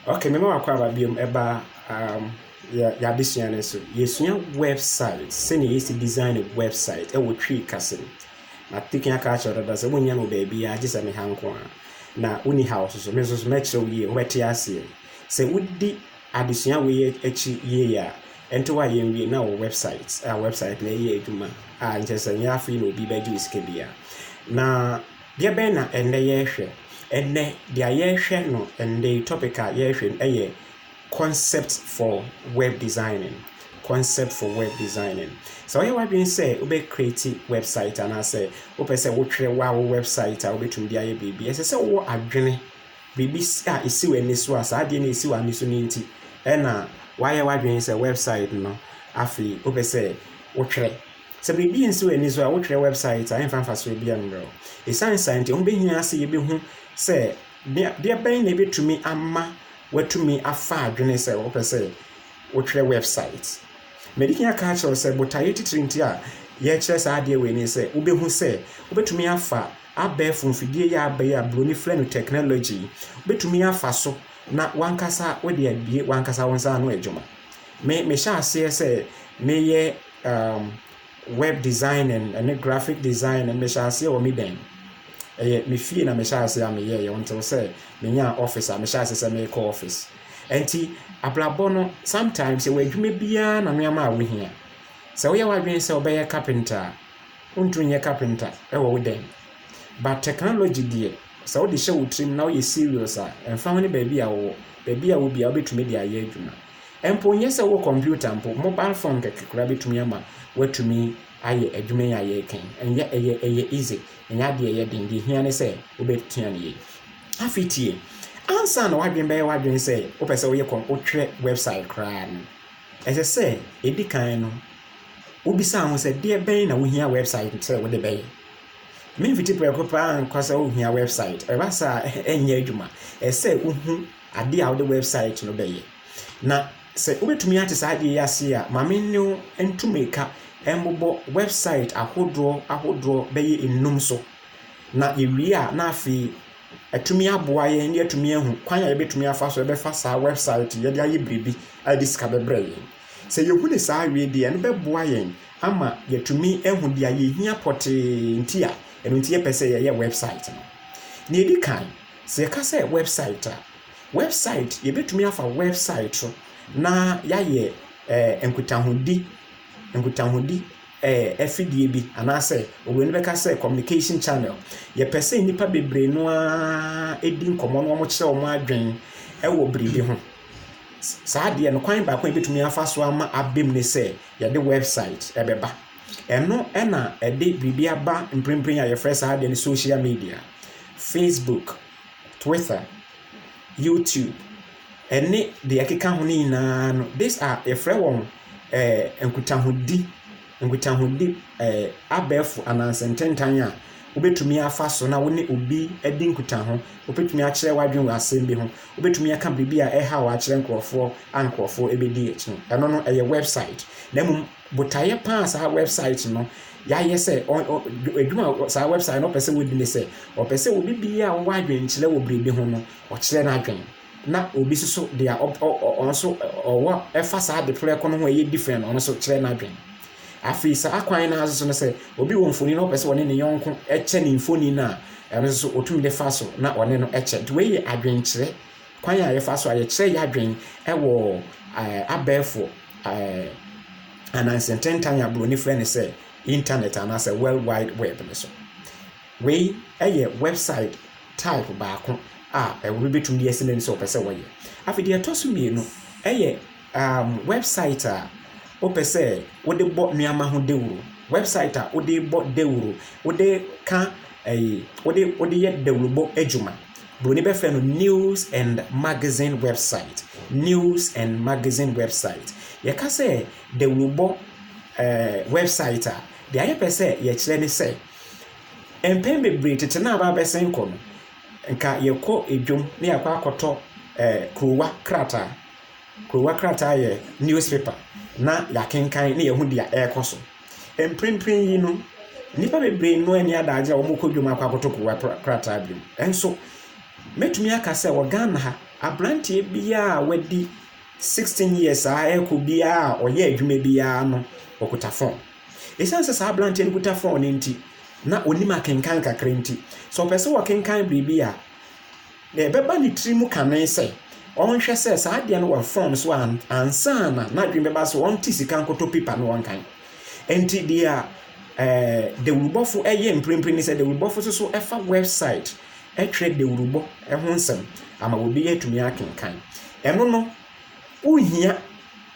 Okay, me ma wakɔ aba biom ɛba um, yɛabɛsua no nso. Yɛsua website, sɛnea yɛsi design website ɛwɔ twi kase mu. Na tekin aka akyerɛ dada sɛ wonnya no baabiara gye sɛ me ha nko a. Na wonni ha so so, me nso so mɛkyerɛ wo yie, wobɛte aseɛ. Sɛ wodi adesua wei akyi yie a, ɛnte hɔ a yɛnwie na wɔ website a website na ɛyɛ adwuma a nkyɛ sɛ nyɛ afei na obi bɛgye wo sika biara. Na Deɛ bɛn na ɛnnɛ yɛrehwɛ? Ɛnnɛ deɛ yɛrehwɛ no, ɛnnɛ yi topic a yɛrehwɛ no yɛ concept for web designing. Concept for web designing. Sɛ woyɛ w'adwene sɛ wobɛ create website anaasɛ wopɛ sɛ wotwerɛ wo a wo website a wobɛtumi de ayɛ biribi, ɛsɛ sɛ wowɔ adwene biribi a ɛsi w'ani so a saa adeɛ no ɛsi w'ani so no nti ɛna woayɛ w'adwene sɛ website no afei wopɛ sɛ wotwerɛ Sɛ biribi nsi wo ani so a, wotwerɛ wɛbsaet a, ɛmfa mfasoɔ biara mmerɛ wo. Ɛsiane saa nti, ɛho bɛhia sɛ yɛbɛhu sɛ deɛ bɛn na ɛbɛtumi ama woatumi afa adwene sɛ wopɛ sɛ wotwerɛ wɛbsaet. Madi kan aka akyerɛ wo sɛ botaeɛ titire nti a yɛrekyerɛ saa adeɛ wei ne sɛ wobɛhu sɛ wobɛtumi afa abɛɛfo mfidie yi a aba yi a buroni frɛ no technology yi, wobɛtumi afa so na w'ankasa wode abue w'ankasa wo nsa ano adwuma. Me, mehyɛɛ aseɛ sɛ meyɛ um, web designing ne graphic design no mehyɛ aseɛ wɔ me dan ɛyɛ me fie na mehyɛ aseɛ a meyɛɛyɛ ɔntew sɛ menyaa office a mehyɛ aseɛ sɛ merekɔ office ɛnti abrabɔ no sometimes ɛwɔ adwuma biara na nneɛma a wohia sɛ woyɛ w'adwene sɛ wobɛyɛ carpenter a wontumi nyɛ carpenter ɛwɔ wo dan but technology deɛ sɛ wode hyɛ wo tirim na woyɛ serious a ɛmfa ho ne baabi a wowɔ baabi a wobia wobɛtumi de ayɛ adwuma Mpo nyɛ sɛ wowɔ kɔmputa mpo, mobile phone kɛkɛ koraa bɛtumi ama woatumi ayɛ adwuma yi a yɛreka yi. Ɛnyɛ, ɛyɛ, ɛyɛ easy. Ɛnyɛ adeɛ a ɛyɛ den. Deɛ ɛhia ne sɛ wobɛsua no yie. Afei tie. Ansa na w'adwene bɛyɛ w'adwene sɛ wopɛ sɛ woyɛ kɔm, wotwerɛ website koraa no, ɛsɛ sɛ ɛdi kan no, wobisa ho sɛ, deɛ bɛn na wohia website sɛ wode bɛyɛ? Memfiti prɛko paa nkɔ sɛ wohia website. Ɛba saa a, ɛnyɛ adwuma. Ɛsɛ sɛ wohu Adeɛ a wode wɛbsaet no bɛyɛ. Na sɛ wobɛtumi ate saa adeɛ yi ase a, ma me ne wo ntu mmirika mmobɔ wɛbsaet ahodoɔ ahodoɔ bɛyɛ nnum so. Na yɛwie a, na afei atumi aboa yɛn ne atumi ahu kwan a yɛbɛtumi afa so ɛbɛfa saa wɛbsaet yi de ayɛ biribi a ɛde sika bɛbrɛ yɛn. Sɛ yɛhu ne saa wie deɛ, ɛno bɛboa yɛn ama yɛatumi ahu deɛ yɛhia pɔtee nti a ɛno nti yɛpɛ sɛ yɛyɛ wɛbsaet no. Deɛ ɛdi kan, Sɛ yɛka sɛ wɛbsaet a, wɛbsaet, yɛbɛtumi afa wɛbsaet so na yɛayɛ ɛɛ nkutahodi, nkutahodi ɛɛ afidie bi anaasɛ oburoni bɛka sɛ communication channel. Yɛpɛ sɛ nnipa bebree no ara di nkɔmmɔ na wɔkyerɛ wɔn adwen wɔ biribi ho. Saa adeɛ no, kwan baako a yɛbɛtumi afa so ama aba mu ne sɛ yɛde wɛbsaet bɛba. Ɛno na ɛde biribi aba mprempren a yɛfrɛ saa adeɛ no social media, Facebook, Twitter, YouTube, ɛne deɛ ɛkeka ho no nyinaa no. These are yɛfrɛ wɔn eh, nkutahodi, nkutahodi eh, abɛɛfo ananse ntentan a wobɛtumi afa so na wo ne obi adi nkutaho wobɛtumi akyerɛ w'adwene wɔ asɛm bi ho wobɛtumi aka biribi a ɛha wɔ akyerɛ nkurɔfoɔ a nkurɔfoɔ ɛbɛdi akyi no ɛno no ɛyɛ website na mmom Botaeɛ pa a saa wɛbsaet no yɛayɛ sɛ adwuma a saa wɛbsaet no ɔpɛ sɛ wɔdi ne sɛ ɔpɛ sɛ obi biara a ɔwɔ adwenkyerɛ wɔ biribi ho no ɔkyerɛ n'adwen na obi nso so deɛ ɔno nso ɔwɔ ɛfa saa ade prɛko no ho a ɛyɛ different no ɔno nso kyerɛ n'adwen. Afei saa kwan no ara nso so no sɛ obi wɔ mfoni na ɔpɛ sɛ ɔne ne yɔnko kyɛ ne mfoni no a ɛno nso so ɔtumi de fa so na ɔne no kyɛ. Nti wei yɛ adwenkyerɛ Kwan a yɛfa so a yɛkyerɛ yɛn adwene wɔ abɛɛfo ananse ntentan a Buroni frɛ no sɛ Intanɛt anaasɛ World Wide Web no so. Wei yɛ wɛbsaet type baako a obi betumi de asi n'ani sɛ ɔpɛ sɛ ɔyɛ. Afei deɛ ɛtɔ so mmienu yɛ. Um, wɛbsaet a wopɛ sɛ wode bɔ nneɛma ho dawuro, wɛbsaet a wode bɔ dawuro, wode ka ɛyi, wode wode yɛ dawurobɔ adwuma. Buroni bɛfrɛ no news and magazine website, news and magazine website. Yɛka sɛ dawurobɔ ɛɛ wɛbsaet a, deɛ ayɛ pɛ sɛ yɛkyerɛ ne sɛ mpɛn bebree tete na aba abɛsen kɔ no, nka yɛkɔ edwom na yɛakɔ akɔtɔ ɛɛ kurowa krataa. Kurowa krataa yɛ newspaper na yɛakenkan na yɛahu deɛ ɛrekɔ so. Mprempren yi no, nnipa bebree nnɔ ani adaagye a wɔkɔ dwam akɔ akɔtɔ kurowa krataa bio. Nso, mɛtumi aka sɛ wɔ Ghana ha, aberanteɛ biara a wadi 16 years a ɛrekɔ biara a ɔyɛ adwuma biara no, ɔkuta phone. Ɛsiane sɛ saa aberanteɛ no kuta phone no nti, na ɔnim akenkan kakra nti, sɛ ɔpɛ sɛ ɔkenkan biribi a, Na ɛbɛba ne tiri mu kane sɛ ɔnhwɛ sɛ saa adeɛ no wɔ fɔm so ansa na n'adwene bɛba sɛ ɔnte sika nkɔtɔ pipa na ɔnkan. Enti deɛ ɛɛ dawurubɔfo yɛ mprempren ne sɛ dawurubɔfo nso so fa wɛbsaet twerɛ dawurubɔ ho nsɛm ama obi atumi akenkan. Ɛno no, wohia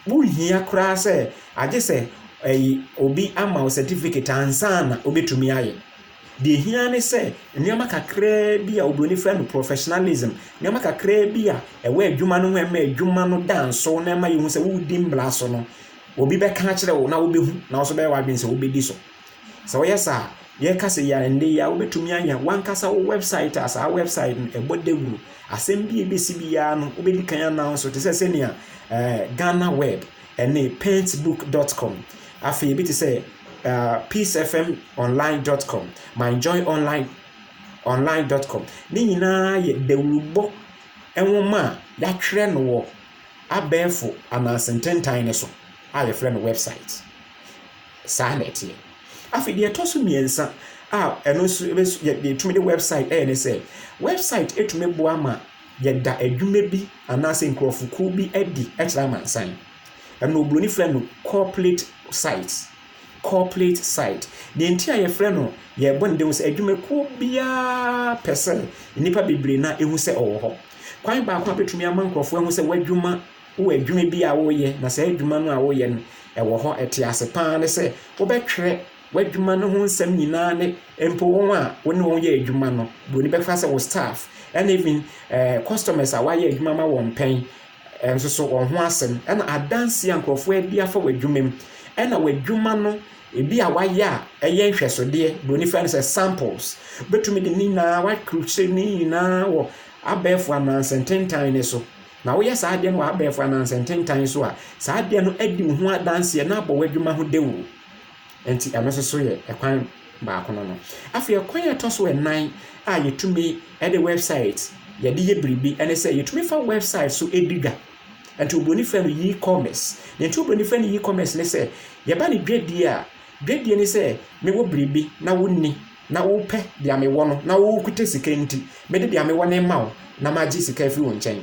wohia koraa sɛ agye sɛ ɛyi obi ama wo certificate ansa na wobɛtumi ayɛ. Deɛ ɛhia ara ne sɛ nneɛma kakraa bi a oburoni frɛ no professionalism, nneɛma kakraa bi a ɛwɔ adwuma no ho a ɛma adwuma no da nsow na ɛma yɛhu sɛ woredi mmara so no, obi bɛka akyerɛ wo na wobɛhu na wo nso bɛyɛ w'adwene sɛ wobɛdi so. Sɛ woyɛ saa a, yɛreka sɛ yɛ nnɛ yi a wobɛtumi ayɛ w'ankasa wo wɛbsaet a saa wɛbsaet no ɛbɔ dawuro. Asɛm bi a ɛbɛsi biara no, wobɛdi kan announce te sɛ sɛnea eh, Ghana Web Ɛne Paintbook dot com, afei ebi te sɛ PeaceFMOnline dot com, MyJoyOnline Online dot com. Ne nyinaa yɛ dawurubɔ nwoma a yɛatwerɛ no wɔ abɛɛfo ananse ntentan no so a yɛfrɛ no wɛbsaet. Saa na ɛteɛ. Afei deɛ ɛtɔ so mmiɛnsa a ɛno nso yɛtumi de wɛbsaet yɛ ne sɛ, wɛbsaet tumi boa ma yɛda adwuma bi anaasɛ nkurɔfokuo bi adi kyerɛ amansan. Ɛno oburoni frɛ no corporate site. Corporate site. Deɛ nti a yɛfrɛ no yɛbɔ no dawuro sɛ adwumakuo biara pɛ sɛ nnipa bebree na ɛhu sɛ ɔwɔ hɔ. Kwan baako a bɛtumi ama nkurɔfoɔ ahu sɛ w'adwuma wɔ adwuma bi a woyɛ na saa adwuma no a woyɛ no ɛwɔ hɔ ɛte ase paa ne sɛ wobɛtwerɛ W'adwuma no ho nsɛm nyinaa ne mpo wɔn a wo ne wɔn yɛ adwuma no, buroni bɛka sɛ wo staff, ɛna even eh, customers a wayɛ adwuma ma wɔn pɛn eh, nso so wɔn ho asɛm, ɛna adansi a nkurɔfoɔ adi afa w'adwuma mu, ɛna w'adwuma no ebi a wayɛ a ɛyɛ nhwɛsodeɛ, buroni fɛ no sɛ samples. Wobɛtumi de ne nyinaa woakrukyire ne nyinaa wɔ abɛɛfo anansɛntentan no so. Na woyɛ saa adeɛ no wɔ abɛɛfo anansɛntentan so a, saa adeɛ no adi wo ho adanseɛ na abɔ w'adwuma ho dawuro. Enti ɛno nso so yɛ kwan baako no no. Afei ɔkwan a ɛtɔ so nnan a yɛtumi de wɛbsaet yɛde yɛ biribi ne sɛ yɛtumi fa wɛbsaet so di dwa. Nti oburoni frɛ no e-commerce. Deɛ nti oburoni frɛ no e-commerce ne sɛ yɛba ne dwadie a dwadie ne sɛ mewɔ biribi na wonni na wopɛ deɛ mewɔ no na wokuta sika nti mede deɛ mewɔ no rema wo na magye sika afiri wo nkyɛn.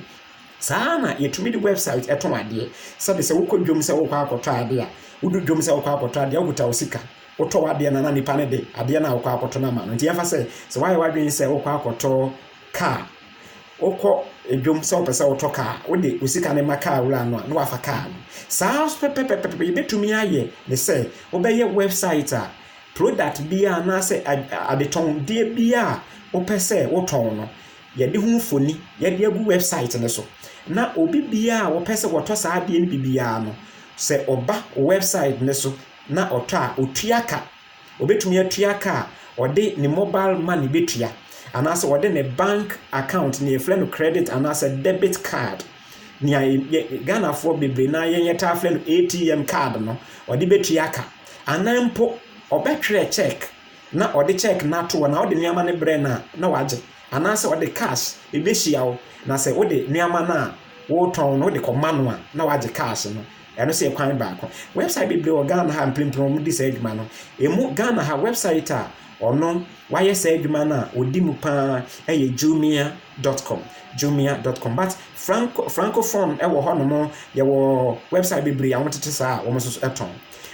Saa ara na yɛtumi de wɛbsaet tɔn adeɛ. Sɛdeɛ sɛ wokɔ dwam sɛ worekɔ akɔtɔ adeɛ a, wodu dwam sɛ worekɔ akɔtɔ adeɛ a, wokuta wo sika. Wotɔ w'adeɛ no na nipa no de adeɛ no a wokɔ akɔtɔ no ama no. Nti yɛmfa sɛ, sɛ woayɛ w'adwene sɛ worekɔ akɔtɔ kaa. Wokɔ dwam sɛ wopɛ sɛ wotɔ kaa a, wode wo sika no ma kaa wura no a, na wafa kaa no. Saa ara nso pɛpɛpɛpɛ, yɛbɛtumi ayɛ ne sɛ, wobɛyɛ wɛbsaet a, product biara anaasɛ adetɔndeɛ biara a wopɛ sɛ wotɔn no, Yɛde ho mfoni yɛde agu wɛbsaet no so na obi biara a wɔpɛ sɛ wɔtɔ saa adeɛ no bi biara no, sɛ ɔba wo wɛbsaet no so na ɔtɔ a, ɔtua ka. Ɔbɛtumi atua ka a ɔde ne mobal mane bɛtua anaasɛ ɔde ne bank akaunt, nea yɛfrɛ no krɛdit anaasɛ dɛbit kaad, nea Ghanafoɔ bebree no ara yɛn yɛtaa frɛ no ATM kaad no, ɔde bɛtua ka. Anaa mpo ɔbɛtwerɛ kyɛɛk na ɔde check no ato hɔ na wode nneɛma no brɛ no a, na wagye. Anaasɛ ɔde cash behyia wo, na sɛ wode nneɛma no a woretɔn no wode kɔma no a, na wagye cash no. Ɛno nso yɛ kwan baako. Website bebree wɔ Ghana ha a mprempren wɔde saa adwuma no. Emu Ghana ha website a ɔno wayɛ saa adwuma no a ɔdi mu paa yɛ Jumia dot com. Jumia dot com. But Franco, Francophone wɔ hɔnom, yɛwɔ website bebree a wɔtete saa a wɔn nso so tɔn.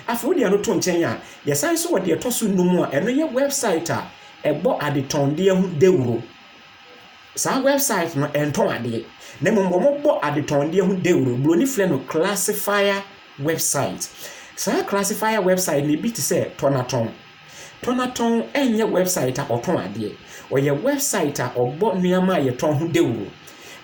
Afei wode ano to nkyɛn a, Yɛsan nso wɔ deɛ ɛtɔ so nnum a ɛno yɛ wɛbsaet a ɛbɔ adetɔndeɛ ho dawuro. Saa wɛbsaet no ɛntɔn adeɛ na mmom wɔbɔ adetɔndeɛ ho dawuro. Buroni frɛ no classifier wɛbsaet. Saa classifier wɛbsaet no ebi te sɛ Tɔnatɔn. Tɔnatɔn ɛnyɛ wɛbsaet a ɔtɔn adeɛ. Ɔyɛ wɛbsaet a ɔbɔ nneɛma a yɛtɔn ho dawuro.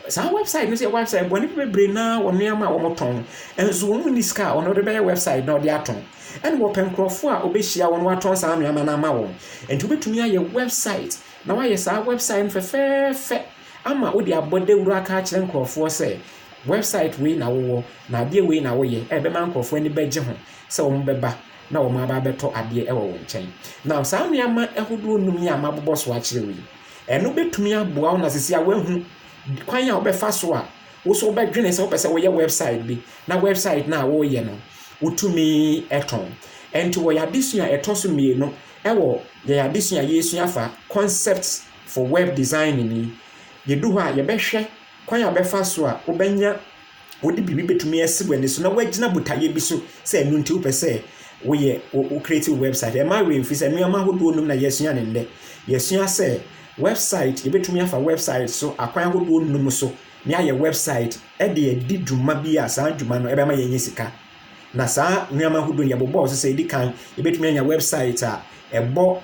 Saa wɛbsaet no nso yɛ wɛbsaet bɔ nnipa bebree no ara wɔ nneɛma a wɔtɔn. Nanso wɔn nni sika a wɔde bɛyɛ wɛbsaet na wɔde atɔn. Ɛnna wɔpɛ nkurɔfo a wɔbɛhyia wɔn na wɔatɔn saa nneɛma no ama wɔn. Enti wobɛtumi ayɛ wɛbsaet na woayɛ saa wɛbsaet no fɛfɛɛfɛ ama wode abɔ dawuro aka akyerɛ nkurɔfoɔ sɛ wɛbsaet wei na wowɔ na adeɛ wei na woyɛ a ɛbɛma nkurɔfoɔ ani bɛgye ho sɛ wɔbɛba na wɔaba abɛtɔ adeɛ wɔ wo nkyɛn. Now saa nneɛma ahodoɔ nnum yi a mabobɔ so akyerɛ wo yi, ɛno bɛtumi aboa wo na sisi a woahu kwan a wobɛfa so a Wo nso wobɛdwene sɛ wopɛ sɛ woyɛ wɛbsaet bi, na wɛbsaet no a woreyɛ no, wotumi tɔn. Ɛnti wɔ yɛn adesua a ɛtɔ so mmienu wɔ yɛn adesua a yɛresua afa Concepts for Web Designing yi, yɛdu hɔ a, yɛbɛhwɛ kwan a wobɛfa so a wobɛnya, wode biribi bɛtumi asi w'ani so na woagyina botaeɛ bi so sɛ ɛno nti wopɛ sɛ woyɛ, wo create wo wɛbsaet. Ɛmma wo werɛ mfiri sɛ nneɛma ahodoɔ nnum na yɛasua no nnɛ. Yɛasua sɛ Wɛbsaet, Yɛbɛtumi afa wɛbsaet so akwan ahodoɔ nnum so ne ayɛ wɛbsaet de adi dwuma bi a saa dwuma no bɛma yɛanya sika. Na saa nnoɔma ahodoɔ yi yɛbobɔɔ so sɛ ɛdi kan yɛbɛtumi anya wɛbsaet a ɛbɔ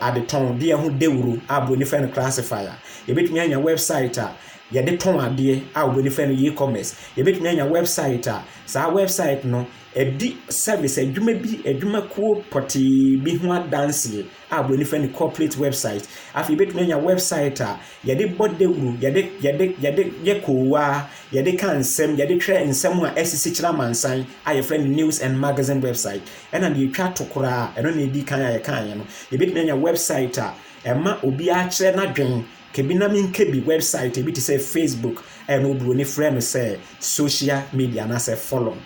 adetɔn deɛ ho dawuro a broni frɛ no classifier. Yɛbɛtumi anya wɛbsaet a yɛde tɔn adeɛ a obroni frɛ no e-commerce. Yɛbɛtumi anya wɛbsaet a saa wɛbsaet no ɛdi service adwuma bi adwumakuo pɔtee bi ho adanseɛ. a wɔn ani fa ne corporate website. Afei yɛbɛtumi anya website a yɛde bɔ dawuro, yɛde yɛde yɛde yɛ koowaa, yɛde ka nsɛm, yɛde twerɛ nsɛm a asisi kyerɛ amansan a yɛfrɛ no news and magazine website. Ɛna deɛ ɛtwa to koraa, ɛno na ɛdi kan a yɛkaeɛ no, yɛbɛtumi anya website a ɛma obiara kyerɛ n'adwen kebi na menka bi website ebi te sɛ facebook ɛna oburoni frɛ no sɛ social media anaasɛ forum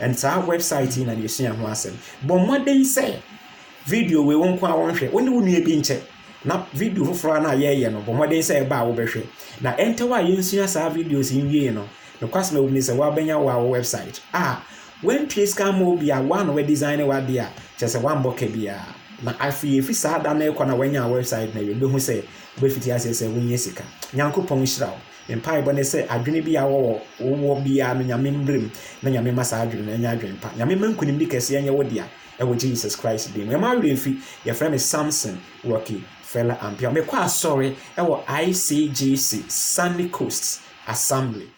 ɛn saa website yi na na yɛsua ho asɛm bɔ mmɔden sɛ Video wei wo nko ara nhwɛ. Wo ne wo nua bi nkyɛ, na video foforɔ ara no a yɛreyɛ no, bɔ mmɔden sɛ ɛba a wobɛhwɛ. Na ɛntɛw a yɛnsua saa videos yi nwiei no, nokwasɛm a ɛwom ne sɛ woabɛnya wo ara wo wɛbsaet. A Woantua sika amma obi a wo ara na woadizane w'adeɛ a, kyerɛ sɛ woammɔ ka biara. Na afei ɛfiri saa da no rekɔ no a woanya wo wɛbsaet no awie no, wobɛhu sɛ wobɛfiti aseɛ sɛ wonya sika. Nyankopɔn nhyira wo. Me mpaebɔ ne sɛ adwene biara a wowɔ biara no Nyame mmrem na Nyame mma saa adwene no nyɛ adwene pa. Nyame mma nkunimdi kɛseɛ nyɛ wo dea. Ɛwɔ Jesus Christ din mu. Ɛma werɛ mfi. Yɛfrɛ me Samson Rocky Fela Ampiaw. Mekɔ asɔre ɛwɔ ICGC Sunny Coast Assembly.